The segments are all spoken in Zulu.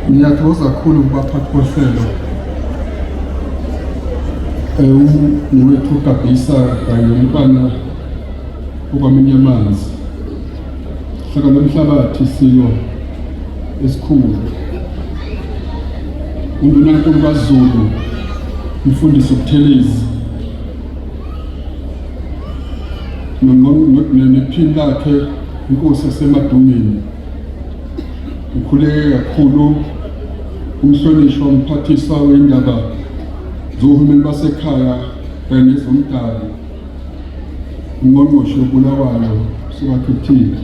ngiyathokoza kakhulu kubaphathi bohlelo ewuniwethu ugabhisa kanye umntwana okwamanye amanzi Hlaka lomhlabathi silo esikhulu. UNdunankulu kaZulu umfundisi uButhelezi nephini lakhe inkosi yasemadungeni ukhuleke kakhulu umhlonishwa umphathiswa wendaba zohulumeni basekhaya kanye nezomdabu ungqongqoshe uBulawayo sibathuthile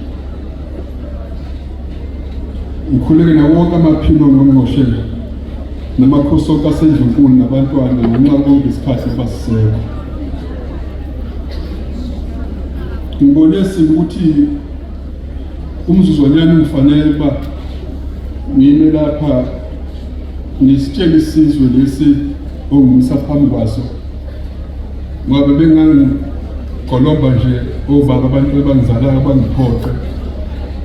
ngikhuleke nawo wonke amaphilo ongqongqoshe namakhosi onke asendlunkulu nabantwana ngenxa konke isikhathi ebasisekho ngibone ukuthi umzuzwanyana ngifanele uba ngime lapha ngisitshele isizwe lesi ongumisa phambi kwaso ngoba bengangigolomba nje obaba abantu bebangizalayo bangiphoqe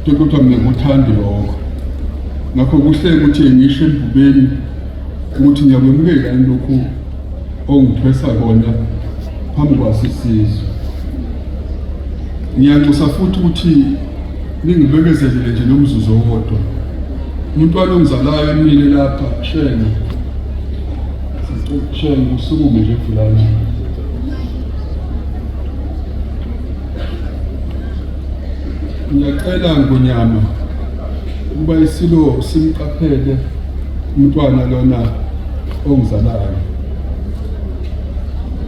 kepha kuthiwa mina ngikuthandi lokho ngakho kuhle ukuthi ngisho embubeni ukuthi ngiyakwemukela yini lokhu ongithwesa kona phambi kwaso isizwe ngiyanxusa futhi ukuthi ningibekezelele nje nomzuzu owodwa umuntu walongizalayo emile lapha shenge Shenge usukume nje fulani. Ngiyacela ngonyama ukuba isilo simqaphele umntwana lona ongizalayo.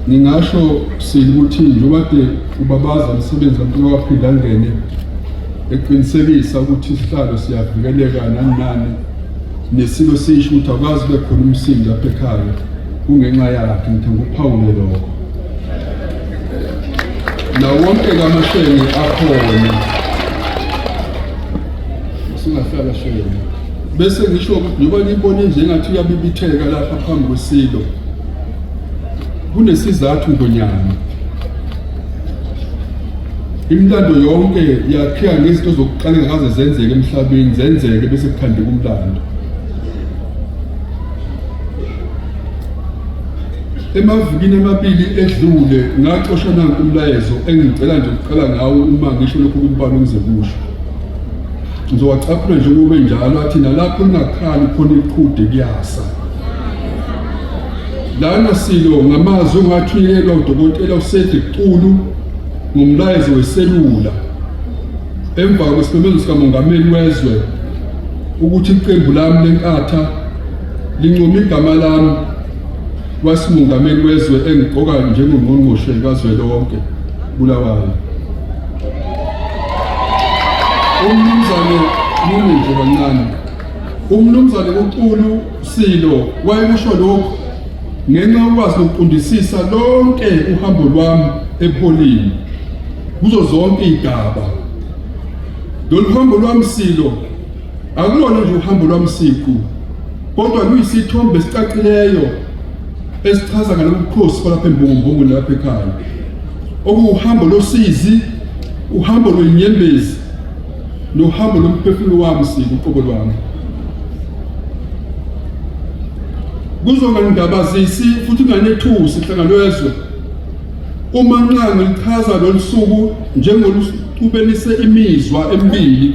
Ngingasho sile ukuthi njengoba kade ubabaza umsebenzi kaMntwana waphinde angene eqinisekisa ukuthi isihlalo siyavikeleka nani nani Nesiko sisho ukuthi akwazi kube khona umsindo lapha ekhaya kungenxa yakhe ngithanda ukuphawule lokho nawonke kamashenge akhona singahlala shenge bese ngisho njengoba ngibone nje ngathi uyabibitheka lapha phambi kwesilo kunesizathu ngonyama Imilando yonke yakhiwa ngezinto zokuqala engakaze zenzeke emhlabeni zenzeke bese kukhandeka umlando. Emavikini amabili edlule ngaxoshwa nanku umlayezo engicela nje ukuqala ngawo uma ngisho lokhu kumbalo ngizekusho. Ngizowacaphula nje kube njalo athi nalapho ningakhali khona iqhude kuyasa. Lana silo ngamazwi ongathunyelwa udokotela uCedric Xulu ngomlayezo weselula emva kwesimemezelo sikamongameli wezwe ukuthi iqembu lami lenkatha lincoma igama lami kwasimongameli wezwe engiqoka njengongqongqoshe kazwelonke Bulawayo. Umnumzane nini nje kancane. Umnumzane uXulu Silo wayekusho lokhu ngenxa yokwazi nokuqondisisa lonke uhambo lwami ebuholini kuzo zonke iy'gaba. Lolu hambo lwami Silo akulona nje uhambo lwami siqu kodwa luyisithombe esicacileyo esichaza ngalobu bukhosi balapha embongombongweni lapha ekhaya okuwuhambo losizi uhambo lwenyembezi nohambo lomphefumulo wami siku uqobo lwami kuzongangabazisi futhi kunganethusi hlangano yezwe uma nxa ngilichaza lolu suku njengolusubenise imizwa emibili